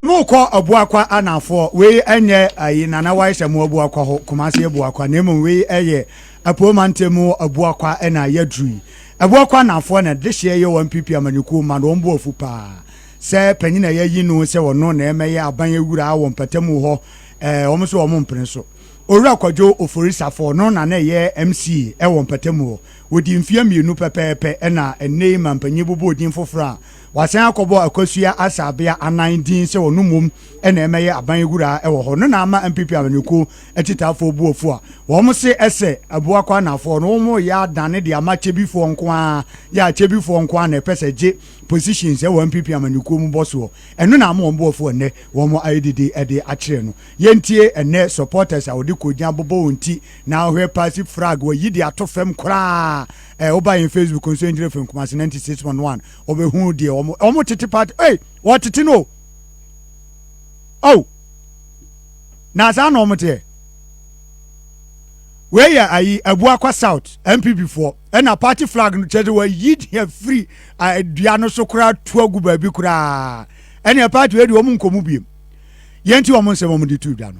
no kɔ ɔboakwa anafoɔ wei ɛnyɛ ayi nana wae sɛ mo ɔboakwa hɔ kumase ɔboakwa na mmom wei ɛyɛ apuo mante mu ɔboakwa ɛna yɛduru yi ɔboakwa anafoɔ na de hyɛ yɛ wɔn pipi amanyɔkuo ma no wɔn bo afu paa sɛ panyin a yɛyi no sɛ ɔno na ɛmɛyɛ aban awura wɔ mpatamu hɔ ɛɛ wɔn nso wɔn mpene so owura kwadwo oforisafoɔ no na na ɛyɛ mc ɛwɔ mpatamu hɔ Wɔdii mfeɛ mmienu pɛpɛɛpɛ na ɛnnɛ yi mampanyin bobɔɔ din foforɔ a wasan akɔbɔ Akosua Asabea Anan din sɛ ɔno mmom na ɛmɛyɛ aban wura wɔ hɔ no na ama NPP amanyɔkuo akyitaafoɔ bu afu a wɔn se ɛsɛ Abuakɔ Anafoɔ no wɔn reyɛ adane de ama Kyebifoɔ nko ara yɛ a Kyebifoɔ nko ara na ɛpɛ sɛ gye positions ɛwɔ NPP amanyɔkuo mu bɔ soɔ ɛno na ama wɔn bo afu ɛnnɛ wɔn ayɛ dede de akyerɛ no yɛntie ɛnnɛ supporters a wɔde kɔgya bobɔ wɔn ti na wohwɛ passive frag wayi de ato fam koraa ɛ woba yɛn facebook nso engineer fam kumase 96.1 wɔbɛhu deɛ wɔn wɔn tete party ei wɔtete no o oh na saa na wɔn teɛ wei yɛ ayi abuakwa south npp foɔ ɛna party flag no kyerɛ sɛ wayi deɛ firi dua no so koraa tu agu baabi koraa ɛna party wei de wɔn nkɔmu biem yɛn ti wɔn nsɛm wɔn de tu dwa no.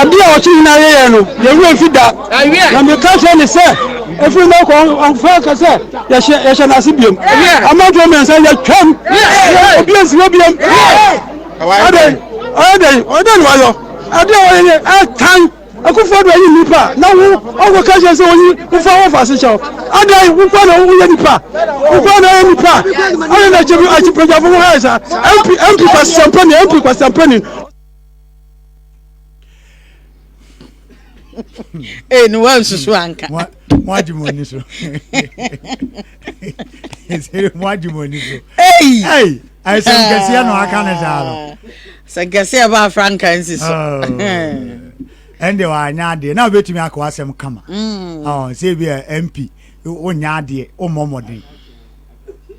adeɛ a ɔkye nyinaa yɛyɛ no yɛwerɛ mfi da na meka kyerɛ ne sɛ ɛfiri no kɔ ɔmfa ka sɛ yɛhyɛ no ase biom amanfoɔ mmiɛnsa yɛtwam obi ansi hɔ biom adɛn ɔyɛ dɛn ɔdɛn na wayɔ adeɛ a ɔyɛ yɛ ɛtan Akufo Addo ayi nnipa a na wo ɔnkɔ ka kyerɛ sɛ oyi wo fa wo ɔfaase kyɛw adan wo kwa na wo yɛ nipa wo kwa na yɛ nipa ayɛ na kyɛ bi akyi pɛgyafo ho ayɛ sa MP MP kwasɛmpa ni MP kwasɛmpa ni Ee ni wa nsusu anka. Mo agye mo ani so. sɛ mo agye mo ani so ei ɛsɛm kɛseɛ na ɔaka ne saa no sɛ kɛseɛ baa franka nsi so oh. ɛnde wanyɛ adeɛ na wobɛtumi akɔ asɛm kama mm. oh, sɛ bi a mp wonyɛ adeɛ wommɔ mmɔden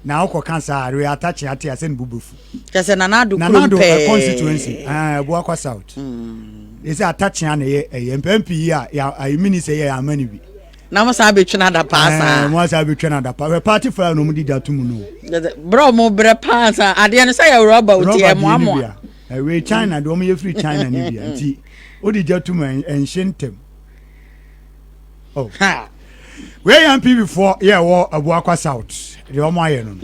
na wokɔ ka saa we atakye ate asɛ ne bobɛfu kyɛsɛ nanado nanado eh, constituency eh, boakwa south ɛsɛ mm. atakyea na ɛyɛ ɛyɛ mpɛ mpi yi a yɛ minister yɛ ama no bi na mo saa bɛtwe no ada paa eh, saa mo asaa bɛtwa no ada paa hwɛ party fire no ɔmde gya to mu no berɛ ɔmo berɛ paa saa adeɛ no sɛ yɛ rɔba oti ɛmoamoa ɛwei eh, china deɛ ɔmo yɛ firi china no bia nti wode gya to mu ɛnhye ntɛm oh. wei yɛ mpibifoɔ yɛ ɛwɔ abuakwa south deɛ ɔmo ayɛ no no